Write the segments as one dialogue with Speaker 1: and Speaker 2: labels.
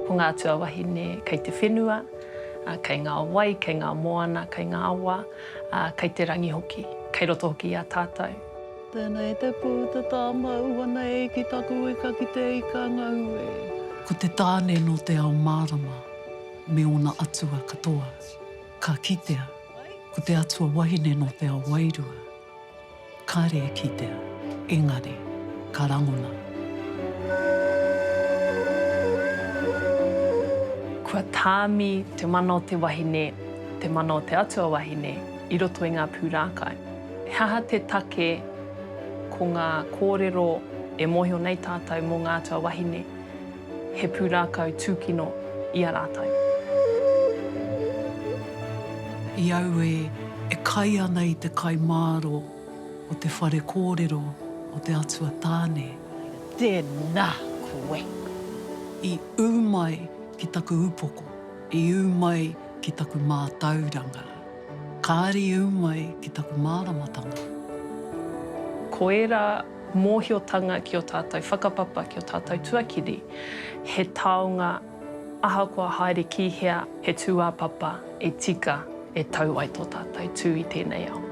Speaker 1: Ko ngā atua wahine kei te whenua, kei ngā wai, kei ngā moana, kei ngā awa, ā, kei te rangi hoki. Kei roto hoki i a tātou. Tēnā e te
Speaker 2: pū, te tā māu ana e ki taku ika ki te ika ngau e. Ko te tāne
Speaker 3: nō te ao mārama me ōna atua katoa, ka kitea, ko te atua wahine nō te ao wairua. Kare e kitea, engari, ka rangona.
Speaker 1: Kua tāmi te mana o te wahine, te mana o te atua wahine, i roto i ngā pūrākau. He aha te take ko ngā kōrero e mōhio nei tātou mō ngā atua wahine? He pūrākau tūkino i a rātou.
Speaker 3: I aue e kai ana i te kai māro o te whare kōrero o te Atua Tāne. Tēnā
Speaker 2: koe. I
Speaker 3: ū mai ki taku upoko. I ū mai ki taku mātauranga. Kāri ū mai ki taku māramatanga.
Speaker 1: Koirā Mōhiotanga ki ō tātou whakapapa, ki ō tātou tuakiri, he taonga ahakoa haere ki hea, he tūāpapa e tika e tau ai tō tātou tū i tēnei ao.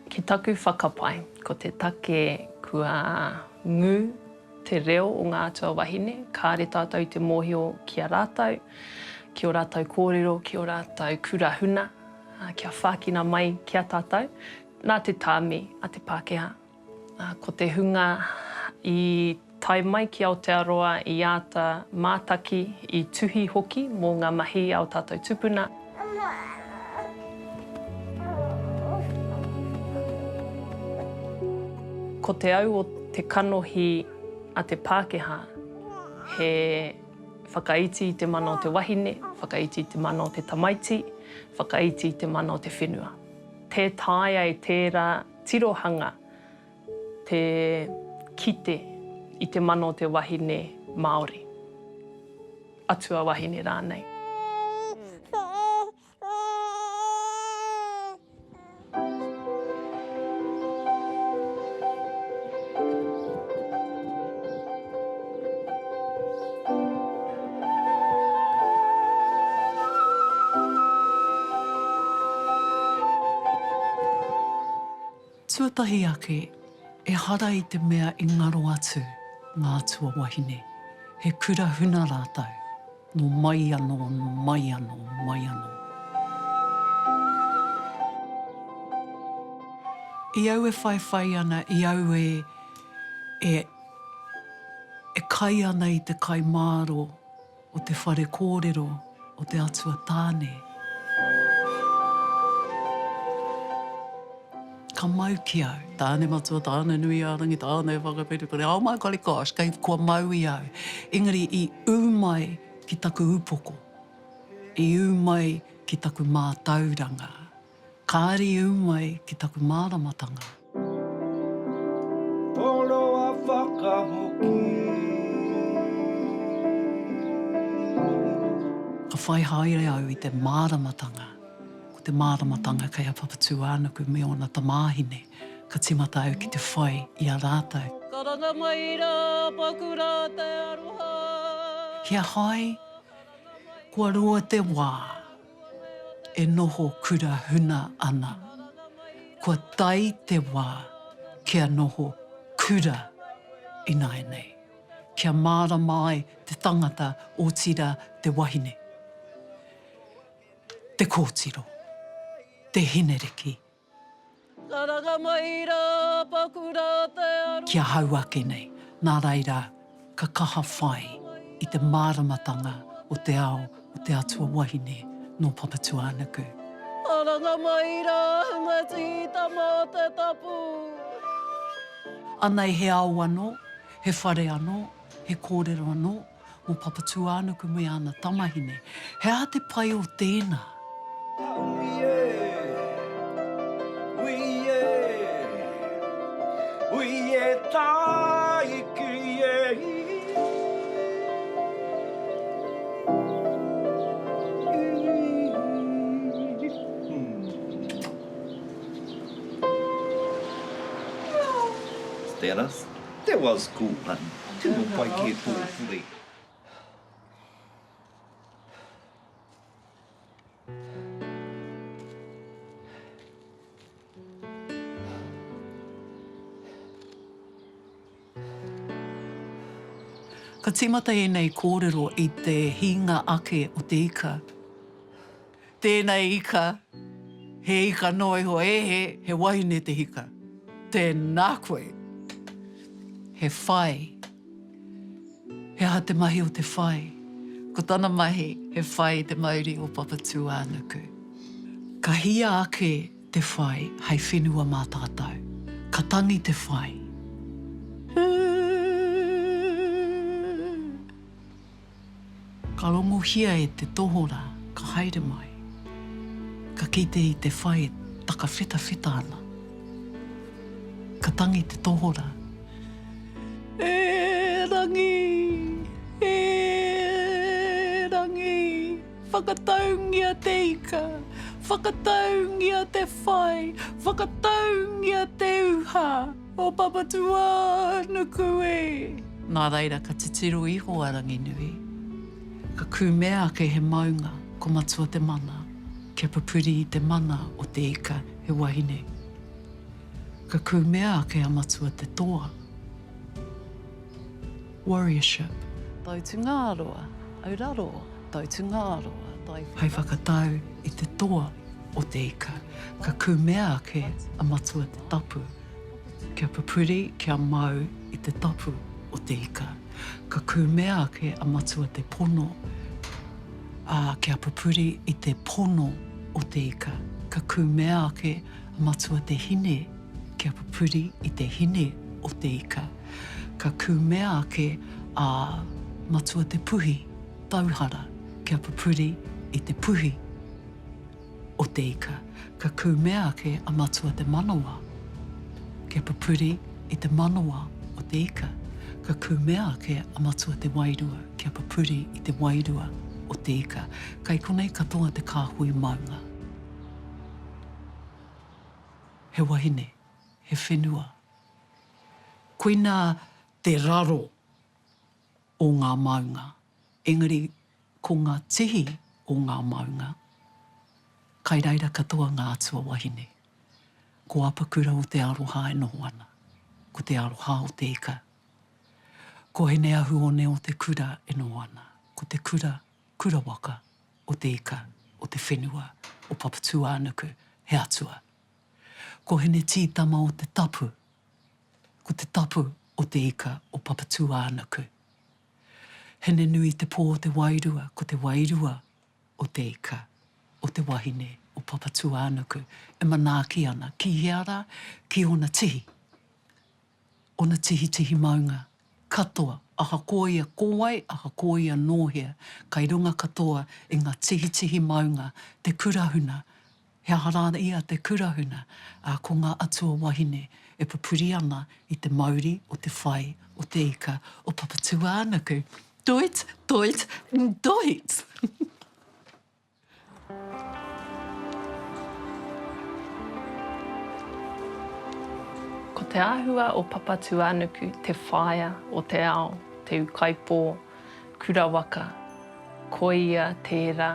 Speaker 1: Ki taku whakapae, ko te take kua ngū te reo o ngā atua wahine, kāre tātou i te mōhio ki a rātou, ki ō rātou kōrero, ki ō rātou kura huna, kia whākina mai ki a tātou, nā te tāmi a te Pākehā. Ko te hunga i tae mai ki Aotearoa i āta mātaki, i tuhi hoki mō ngā mahi a ō tātou tupuna. Ko te au o te kanohi a te Pākehā, he whakaiti i te mana o te wahine, whakaiti i te mana o te tamaiti, whakaiti i te mana o te whenua. Tē taea e tērā. Tirohanga, te kite i te mana o te wahine Māori, atua wahine rānei.
Speaker 3: Tuatahi ake, ehara i te mea i ngaro atu ngā tuawahine, he kura huna rātou. Nō mai anō, nō mai anō, mai anō. I au e whaiwhai ana, i au e, e, e kai ana i te kai māro o te whare kōrero o te Atua Tāne. Ka mau ki au. Tāne matua, tāne nui a rangi, tāne e whakawhiti kore, ao mai kore kosh, kei kua mau i au. Engari i ū mai ki taku upoko, i ū mai ki taku mātauranga. Kāre i ū mai ki taku māramatanga.
Speaker 4: Toroa whakahoki.
Speaker 3: Ka whai haere au i te māramatanga. Ko te māramatanga kei a Papatūānuku me ōna tamāhine, ka tīmata au ki te whai i a rātou. Karanga mai
Speaker 2: rā, paku rā te aroha. Kia
Speaker 3: hai, kua roa te wā e noho kura huna ana, kua tae te wā kia noho kura ināianei, kia mārama ai te tangata otirā te wahine. Te kōtiro, te hineriki.
Speaker 2: Karanga mai rā, paku rā te aroha. Ki ahau ake nei,
Speaker 3: nā reira ka kaha whai i te māramatanga o te ao o te atua wahine nō Papatūānuku. Karanga
Speaker 2: mai rā, hunga tītama o te tapu.
Speaker 3: Anei he ao anō, he whare anō, he kōrero anō. Mo Papatūānuku me ana tamahine, he aha te pai o tēnā?
Speaker 4: That was cool hun, tino pai kē tō whare.
Speaker 3: Ka tīmata ēnei kōrero i te hīnga ake o te ika. Tēnei ika, he ika noa iho ehe, he wahine te hika. Tēnā koe. He whai. He aha te mahi o te whai? Ko tana mahi, he whai i te mauri o Papatūānuku. Ka hia ake te whai hei whenua mā tātou. Ka tangi te whai. Ū! Ka rongohia e te tohorā, ka haere mai. Ka kite i te whai e takawhetawheta ana. Ka tangi te tohorā. E Rangi! E Rangi! Whakataungia te ika! Whakataungia te whai! Whakataungia te uha! O Papatūā nuku e! Nā reira ka titiro iho a Ranginui, ka kūmea ake he maunga ko Matua te mana kia pupuri i te mana o te ika he wahine. Ka kūmea ake a Matua te toa. Warriorship. Tau Tungāroa, au raro, tau Tungāroa, tai whekau. Hei whakatau i te toa o te ika, ka kumea ake a Matua te tapu, kia pupuri, kia mau i te tapu o te ika. Ka kumea ake a Matua te pono, ā, kia pupuri i te pono o te ika. Ka kumea ake a Matua te hine. Kia pupuri i te hine o te ika, ka kumea ake a Matua Te Puhi Tauhara kia pupuri i te puhi o te ika, ka kumea ake a Matua Te Manawa kia pupuri i te manawa o te ika, ka kumea ake a Matua Te Wairua kia pupuri i te wairua o te ika. Kai konei katoa te kāhui maunga. he wahine, he whenua. Koina te raro o ngā maunga, engari ko ngā tihi o ngā maunga, kai reira katoa ngā atua wahine. Ko Apakura o Te Aroha e noho ana, ko Te Aroha o Te Ika. Ko Hineahuone o Te Kura e noho ana, ko Te Kura kura waka, o te ika, o te whenua, o Papatūānuku, he atua. Ko Hine Tītama o Te Tapu, ko te tapu o te ika o Papatūānuku. Hine nui te pō o te wairua, ko te wairua o te ika, o te wahine, o Papatūānuku, e manaaki ana, ki hea rā? Ki ōna tihi. Ona tihitihi maunga, katoa, ahakoa ia ko wai, ahakoa ia nō hea, kai runga katoa i ngā tihitihi maunga te kurahuna, he aha rā ia te kurahuna, ā, ko ngā atua wahine e pupuri ana i te mauri o te whai o te ika o Papatūānuku. Toit, toit, ntoit!
Speaker 1: Ko te āhua o Papatūānuku te whaea o te ao, te ukaipō, kura waka, koia tērā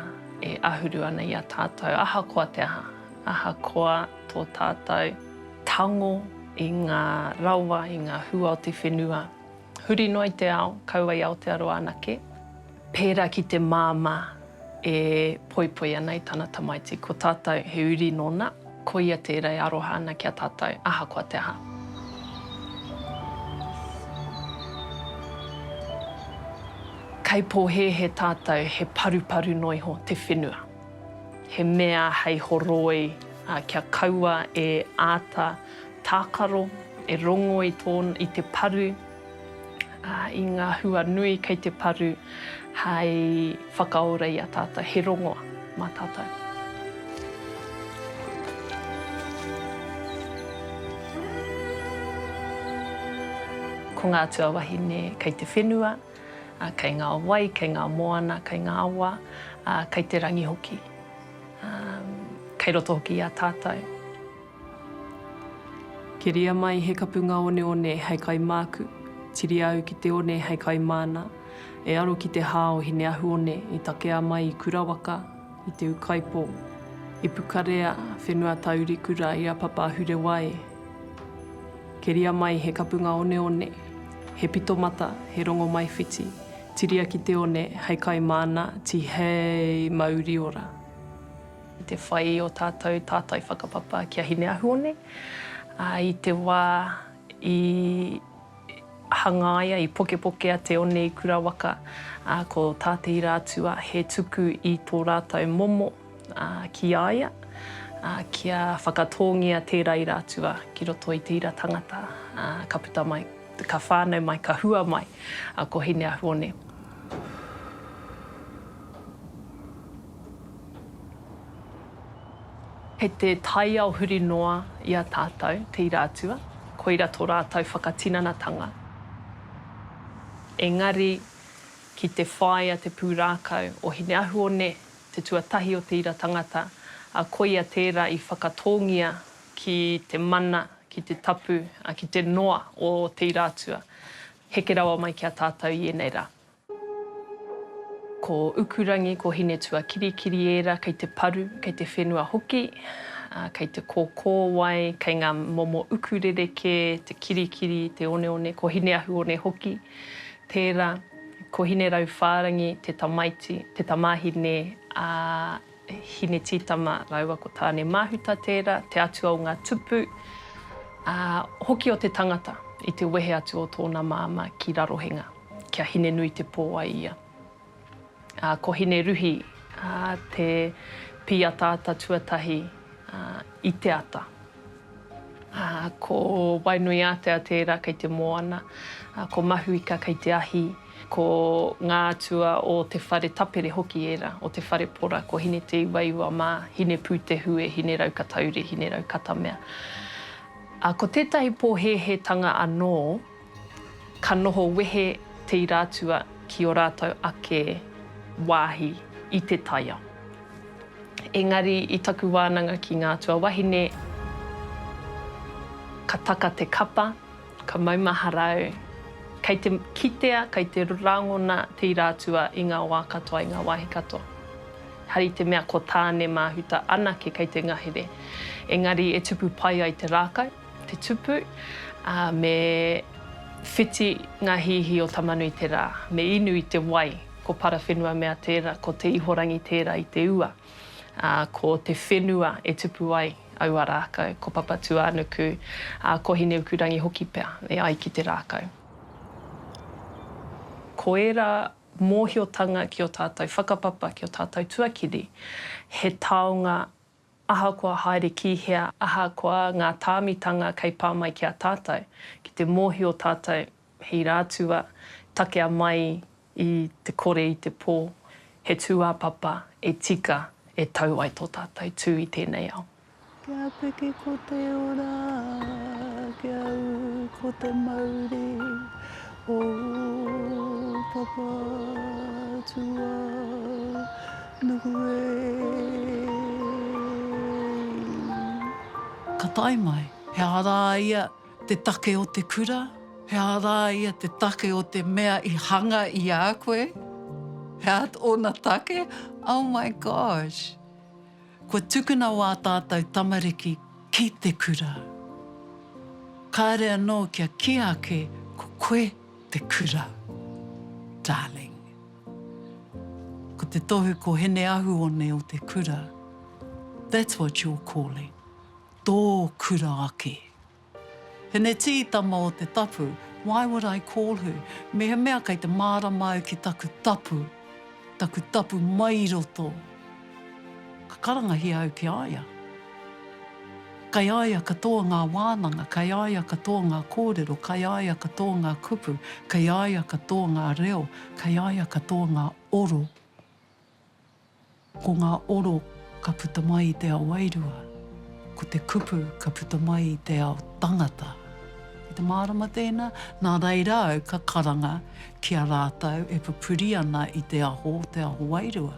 Speaker 1: e ahuru ana i a tātou ahakoa te aha, ahakoa tō tātou tango i ngā rawa, i ngā hua o te whenua. Huri noa i te ao, kaua i Aotearoa anake. Pērā ki te māmā e poipoi ana i tana tamaiti, ko tātou he uri nōna, koia tērā e aroha ana ki a tātou, ahakoa te aha. Kei pōhēhē tātou, he paruparu noa iho te whenua. He mea hei horoi kia kaua e āta Tākaro e rongo i tō, i te paru, ā, i ngā hua nui kei te paru hei whakaora i a tātou, he rongoa mā tātou. Ko ngā atua wahine kei te whenua, kei ngā wai, kei ngā moana, kei ngā awa, ā, kei te rangi hoki. Ā, kei roto hoki i a tātou. Keria mai he kapunga oneone hei kai māku, tiria au ki te one hei kai māna, e aro ki te hā o Hineahuone i takea mai i Kurawaka, i Te Ukaipo, i Pukarea, whenua taurikura i a Papa Hurewai. Keria mai he kapunga oneone, he pito mata, he rongomaiwhiti, tiria ki te one hei kai māna, tihei mauri ora. Te whai i ō tātou tātai whakapapa ki a Hineahuone, ā, i te wā i hangaia, i pokepokea te one i Kura Waka, ā, ko tā Te Ira Atua he tuku i tō rātou momo, ā, ki a ia, ā, kia whakatōngia tērā Ira Atua ki roto i te ira tangata, ā, ka puta mai, ka whānau mai, ka hua mai ko Hineahuone. Kei te taiao huri noa i a tātou te ira atua, koira tō rātou whakatinanatanga. Engari, ki te whāia te pūrākau o Hineahuone, te tuatahi o te ira tangata, ā, koia tērā i whakatōngia ki te mana, ki te tapu, ā, ki te noa o te ira atua, heke rawa mai ki a tātou i ēnei rā. Ko Ukurangi, ko Hinetuakirikiri ērā kei te paru, kei te whenua hoki, kei te kōkōwai, kei ngā momo uku rerekē, te kirikiri, te oneone, ko Hineahuone hoki tērā, ko Hinerauwhārangi te tamaiti, te tamāhine a. Hinetītama rāua ko Tānemāhuta tērā, te atua o ngā tupu, ā, hoki o te tangata i te wehe atu o tōna māmā ki Rarohenga, ki a Hinenuitepō ai ia. Ā, ko Hineruhi, ā, te pīataata tuatahi, ā, i te ata Ko Wainuiātea tērā kei te moana, ko Mahuika kei te ahi, ko ngā atua o te whare tapere hoki ērā, o te whare pora, ko Hine-te-iwaiwa mā, Hine-pū-te-hue, Hine-rau-ka-tauri, Hine-rau-katamea. Ko tētahi pōhēhētanga anō, Ka noho wehe te irātua ki ō rātou ake wāhi i te taiao. Engari i taku wānanga ki ngā atua wahine, ka taka te kapa, ka maumahara au, kei te kitea, kei te rangona te irātua i ngā wā katoa, i ngā wāhi katoa. Hari te mea ko Tāne Māhuta anake kei te ngahere. Engari e tupu pai ai te rākau, te tupu, ā, me whiti ngā hihi o Tamanui te rā, me inu i te wai, ko Parawhenua mea tērā, ko Te Ihorangi tērā i te ua, ā, ko te whenua e tupu ai aua rākau, ko Papatūānuku, ā, ko Hineukurangi hoki pea e ai ki te rākau. Ko ērā mōhiotanga ki ō tātou whakapapa, ki ō tātou tuakiri, he taonga Ahakoa haere ki hea, ahakoa ngā tāmitanga kei pā mai ki a tātou, ki te mōhio tātou he ira atu a, takea mai i te kore i te pō, he tūāpapa e tika e tau ai tō tātou tū i tēnei ao. Kia piki
Speaker 2: ko te ora, kia ū ko te mauri, O Papa tu au nuku ei.
Speaker 3: Ka tae mai, he aha rā ia te take o te kura? He aha rā ia te take o te mea i hanga i a koe? He aha ōna take? Oh my gosh! Kua tukuna wā tātou tamariki ki te kura. Kāre anō kia kī ake ko koe te kura, darling. Ko te tohu ko Hene Ahuone o te kura, that's what you're calling, tō kura ake. Hineti, Tama o te tapu, why would I call her? Mehemea kei te mārama au ki taku tapu, taku tapu mai i roto, ka karangahia au ki a ia. Kei a ia katoa ngā wānanga, kei a ia katoa ngā kōrero, kei a ia katoa ngā kupu, kei a ia katoa ngā reo, kei a ia katoa ngā oro. Ko ngā oro ka puta mai i te ao wairua, ko te kupu ka puta mai i te ao tangata. Kei te mārama tēnā, nā reira au ka karanga ki a rātou e pupuri ana i te aho o te ao wairua,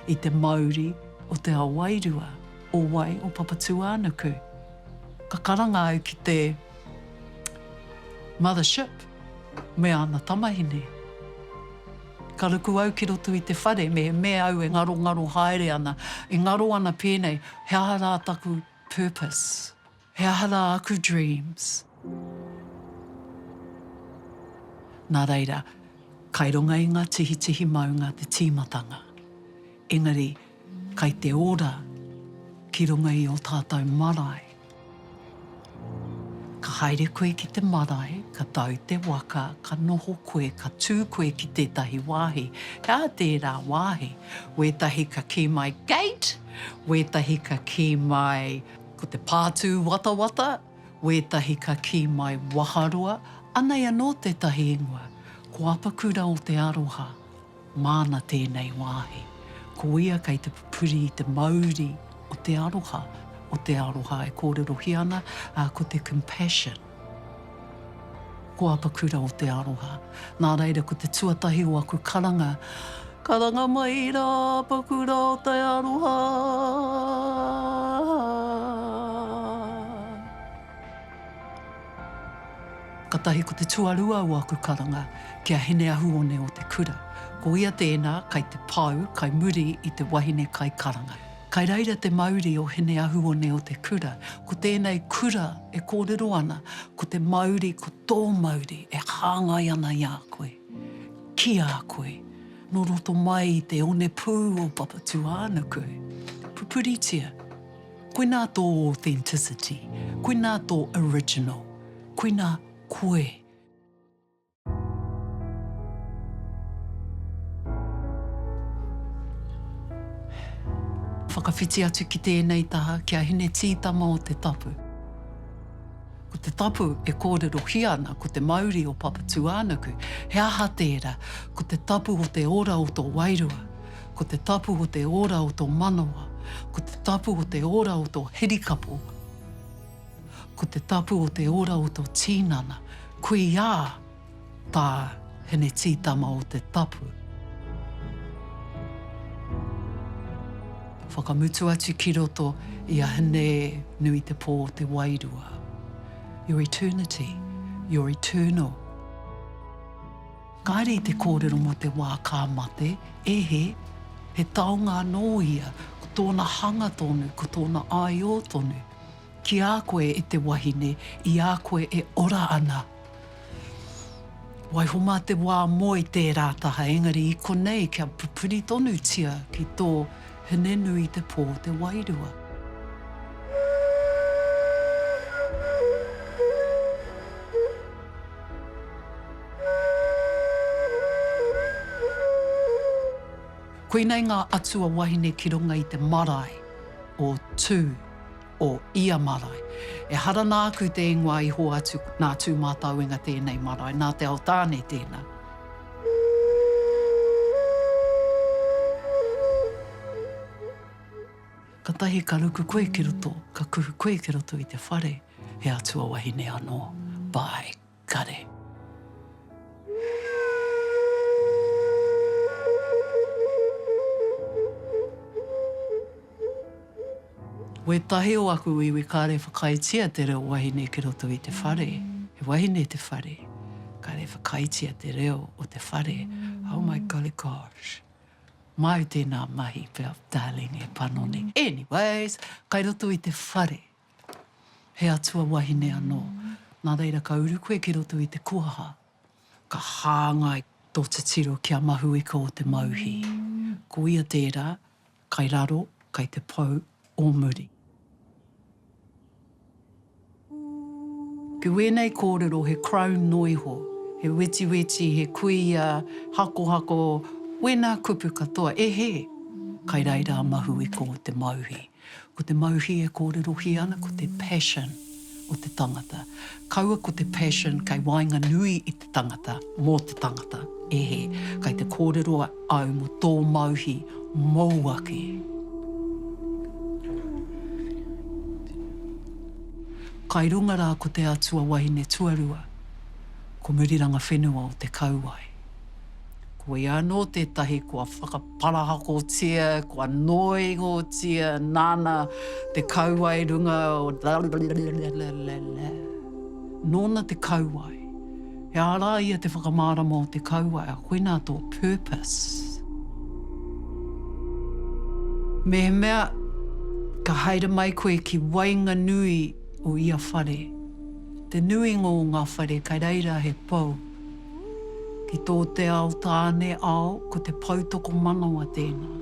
Speaker 3: i te mauri o te ao wairua, o wai, o Papatūānuku. Ka karanga au ki te. Mother ship me ana tamahine. Ka ruku au ki roto i te whare me me au e ngarongaro haere ana, e ngaro ana pēnei, he aha rā taku purpose? He aha rā aku dreams? Nā reira, kai runga i ngā tihitihi maunga te tīmatanga. Engari, Kai te ora ki runga i o tātou marae. Ka haere koe ki te marae, ka tau te waka, ka noho koe, ka tū koe ki tētahi wāhi, he aha tērā wāhi? Wētahi ka kī mai Gate! Wētahi ka kī mai ko te pātū watawata, wētahi ka kī mai Waharoa, anei anō tētahi ingoa, ko Apakura o te Aroha. Māna tēnei wāhi. Ko ia kei te pupuri i te mauri o te aroha, o te aroha e kōrerohia ana, ā, ko te compassion. Ko Apakura o te aroha. Nā reira, ko te tuatahi o aku karanga, Karanga mai rā Apakura o te aroha! Katahi ko te tuarua o aku karanga ki a Hineahuone o te Kura, ko ia tēnā kai te pau kai muri i te wahine kai karanga. Kai reira te mauri o Hineahuone o te Kura, ko tēnei kura e kōrero ana ko te mauri ko tō mauri e hāngai ana i a koe, ki a koe, nō roto mai i te onepū o Papatūānuku. Pupuritia. Koinā tō authenticity, koinā tō original, koinā koe. Whakawhiti atu ki tēnei taha, ki a Hine Tītama o Te Tapu. Ko Te Tapu e kōrerohia ana ko te mauri o Papatūānuku. He aha tērā? Ko te tapu o te ora o tō wairua. Ko te tapu o te ora o to manawa, ko te tapu o te ora o to hirikapo, ko te tapu o te ora o to tinana, kuia ta Hinetītama o te tapu. Whakamutu atu ki roto i a Hine-nui-te-pō o te wairua. Your eternity, your eternal. Kāre i te kōrero mō te wā ka mate, ehe, he taonga anō ia, ko tōna hanga tonu, ko tōna aiō tonu. Ki a koe e te wahine, i a koe e ora ana. Waiho mā te wā moe tērā taha, engari i konei kia pupuri tonutia ki tō. Hine nui te pō te wairua. Koinei ngā atua wahine ki runga i te marae o Tū. o ia marae. Ehara nāku te ingoa i hoatu nā Tūmātauenga tēnei marae, nā Te Aotāne tēnā. Katahi ka ruku koe ki roto, ka kuhu koe ki roto i te whare, he atua wahine anō. Bye. kare. Wētahi o aku iwi kāre whakaaetia te reo wahine ki roto i te whare. He wahine te whare, kāre whakaaetia te reo o te whare. Oh my golly gosh. Māu tēnā mahi pea darling e panoni. Anyways, kai roto i te whare. He atua wahine anō. Nā reira ka uru koe ki roto i te koha, ka hāngai tō titiro ki a Mahuika o te Mauhi. Ko ia tērā, kai raro, kai te pou o muri. Ki wēnei kōrero he crown noiho, he wetiweti, he kuia, hakohako, wēnā kupu katoa, e hē! Kai reira a Mahuika o te Mauhi. Ko te mauhi e kōrerohia ana ko te passion o te tangata. Kaua ko te passion kei waenganui i te tangata, mō te tangata, e he, kei te kōrero au mō tō mauhi mōu ake. Kai runga rā ko te Atua Wahine Tuarua, ko Muriranga Whenua o Te Kauwae. Koia anō tētahi kua whakaparahakotia, kua noihotia, nāna te kauae runga o la-la-la-la-la-la-la-la. Nōna te kauae. He ārā ia te whakamārama o te kauae, a koinā tō purpose. Mehemea ka haere mai koe ki waenganui o ia whare, te nuinga o ngā whare kei reira he pou, Ki tō te ao tāne ao ko te poutokomanawa tēnā.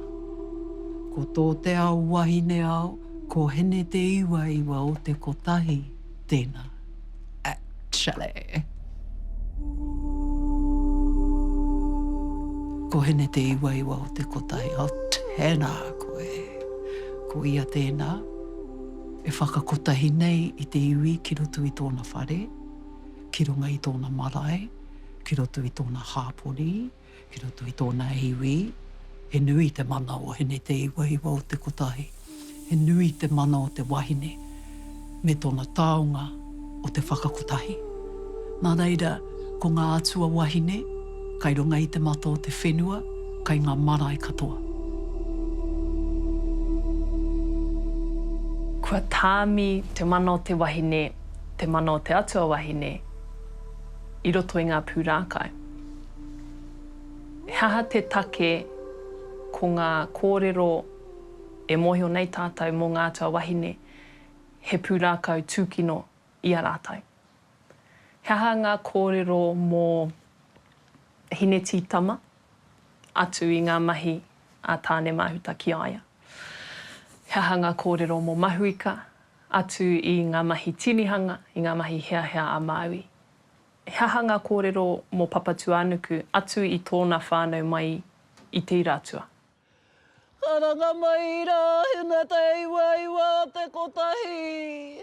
Speaker 3: Ko tō te ao wahine ao ko Hene-te-iwa-iwa o te Kotahi tēnā. Actually. Ko Hene-te-iwa-iwa o te Kotahi ao tēnā koe. Ko ia tēnā e whakakotahi nei i te iwi ki roto i tōna whare. ki runga i tōna marae, ki roto i tōna hāpori, ki roto i tōna iwi, he nui te mana o Hineteiwahiwa o te kotahi, he nui te mana o te wahine me tōna taonga o te whakakotahi. Nā reira, ko ngā atua wahine, kai runga i te mata o te whenua, kai ngā marae katoa.
Speaker 1: Kua tāmi te mana o te wahine. te mana o te atua wahine i roto i ngā pūrākau. He aha te take ko ngā kōrero e mōhio nei tātou mō ngā atua wahine he pūrākau tūkino i a rātou? He aha ngā kōrero mō Hine Tītama atu i ngā mahi a Tāne Māhuta ki a ia? He aha ngā kōrero mō Mahuika atu i ngā mahi tinihanga, i ngā mahi heahea a Māui. He aha ngā kōrero mō Papatūānuku atu i tōna whānau mai i Te Ira Atua?
Speaker 2: Karanga mai i rā huna te iwa iwa te kotahi.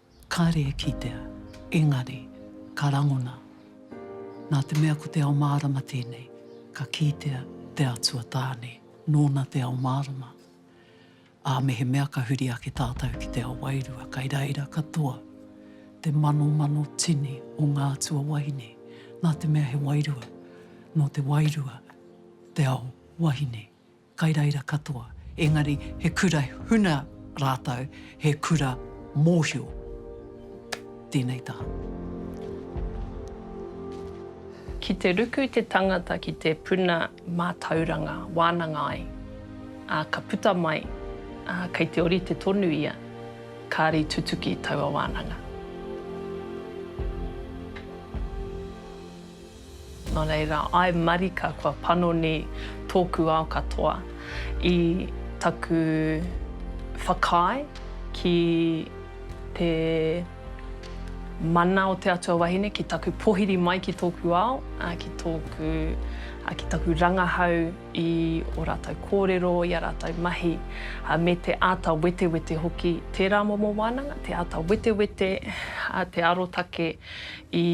Speaker 3: Kare e kitea, engari, ka rangona. Nā te mea ko te ao mārama tēnei, ka kītea te Atua Tāne, nōna te ao mārama. Ā, mehemea ka huri ake tātou ki te ao wairua, kai reira katoa te manomano tini o ngā atua wahine, nā te mea he wairua, nō te wairua te ao wahine. kai reira katoa, engari he kura huna rātou, he kura mōhio. Tēnei tā.
Speaker 1: Ki te ruku te tangata ki te puna mātauranga wānanga ai, ā, ka puta mai, ā, kei te orite tonu ia, kāri tutuki taua wānanga. Nō reira, I marika kua panoni tōku ao katoa i taku whakaae ki te mana o te Atua Wahine, ki taku pohiri mai ki tōku ao, ki tōku, ki taku rangahau i o rātou kōrero, i a rātou mahi, me te āta wetewete hoki, tērā momo wānanga, te āta wetewete, te arotake i.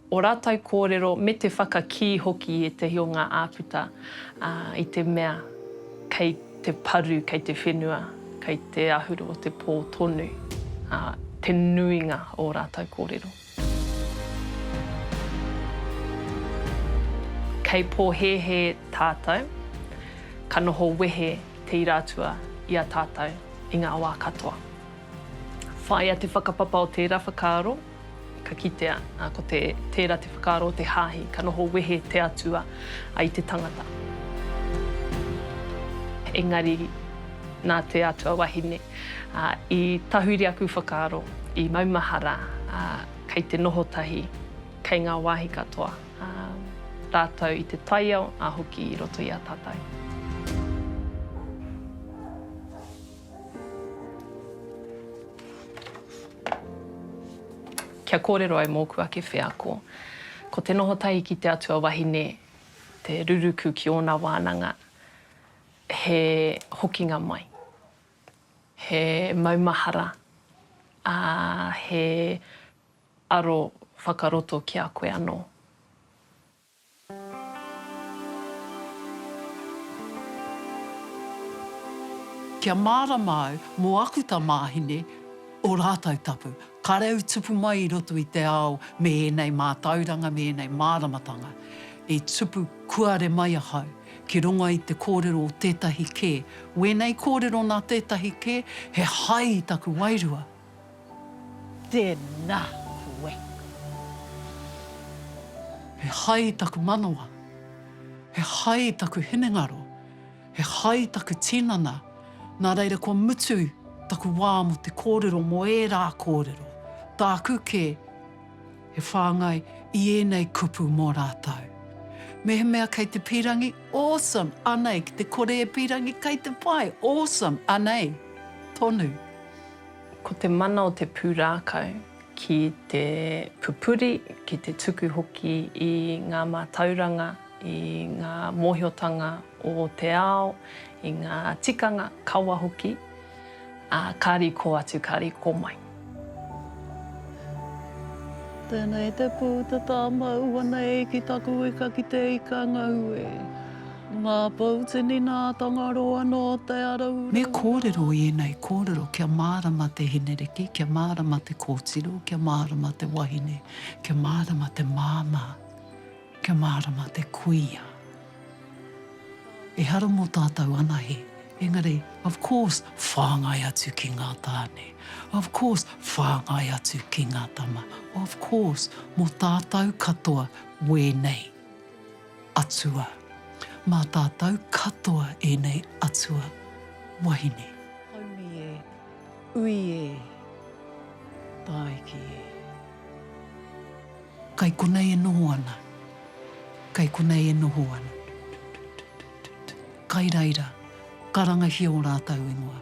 Speaker 1: ō rātou kōrero me te whakakī hoki i ētahi o ngā āputa i te mea kei te paru, kei te whenua, kei te ahuru o te pō tonu te nuinga o ō rātou kōrero. Kei pōhēhē tātou, ka noho wehe Te Ira Atua i a tātou i ngā wā katoa. Whāia te whakapapa o tērā whakaaro. Ka kitea, ā, ko te, tērā te whakaaro o te hāhi, ka noho wehe te Atua i te tangata. Engari, nā te Atua wahine, ā, i tahuri aku whakaaro, i maumahara, ā, kei te noho tahi, kei ngā wāhi katoa, ā, rātou i te taiao, ā hoki i roto i a tātou. Kia kōrero ai mōku ake wheako. Ko te noho tahi ki te atua wahine te ruruku ki ōna wānanga, he hokinga mai, he maumahara, ā, he aro whakaroto ki a koe anō.
Speaker 3: Kia mārama au mō aku tamāhine, ō rātou tapu, kāre au i tupu mai i roto i te ao me ēnei mātauranga, me ēnei māramatanga. I tupu kuare mai ahau ki runga i te kōrero o tētahi kē. Wēnei kōrero nā tētahi kē, he hai i taku wairua. Tēnā
Speaker 2: koe.
Speaker 3: He hai taku manawa, he hai taku hinengaro, he hai taku tinana, nā reira kua mutu taku wā mō te kōrero, mō ērā kōrero, tāku kē, he whāngai i ēnei kupu mō rātou. Mehemea kei te pīrangi, awesome, anei, ki te kore e pīrangi, kei te pai, awesome, anei, tonu.
Speaker 1: Ko te mana o te pūrākau ki te pupuri, ki te tuku hoki i ngā mātauranga, i ngā mōhiotanga o te ao, i ngā tikanga, kawa hoki, ā, kāri kō atu, kāri kō mai.
Speaker 2: Tēnei te pū, te tāmau, anei ki taku ika ki te ika ngau e. Ngā pou tini nā Tangaroa nō Te Araura. Me kōrero i
Speaker 3: ēnei kōrero kia mārama te hinereki, kia mārama te kōtiro, kia mārama te wahine, kia mārama te māmā, kia mārama te kuia. Ehara mō tātou anahe, engari, of course, whāngai atu ki ngā tāne, of course, whāngai atu ki ngā tama, of course, mō tātou katoa wēnei. Atua. Mā tātou katoa ēnei atua wahine. Haumi e.
Speaker 2: Ui e. Tāiki e.
Speaker 3: Kai konei e noho ana. Kai konei e noho ana. Kai reira, karangahia o rātou ingoa.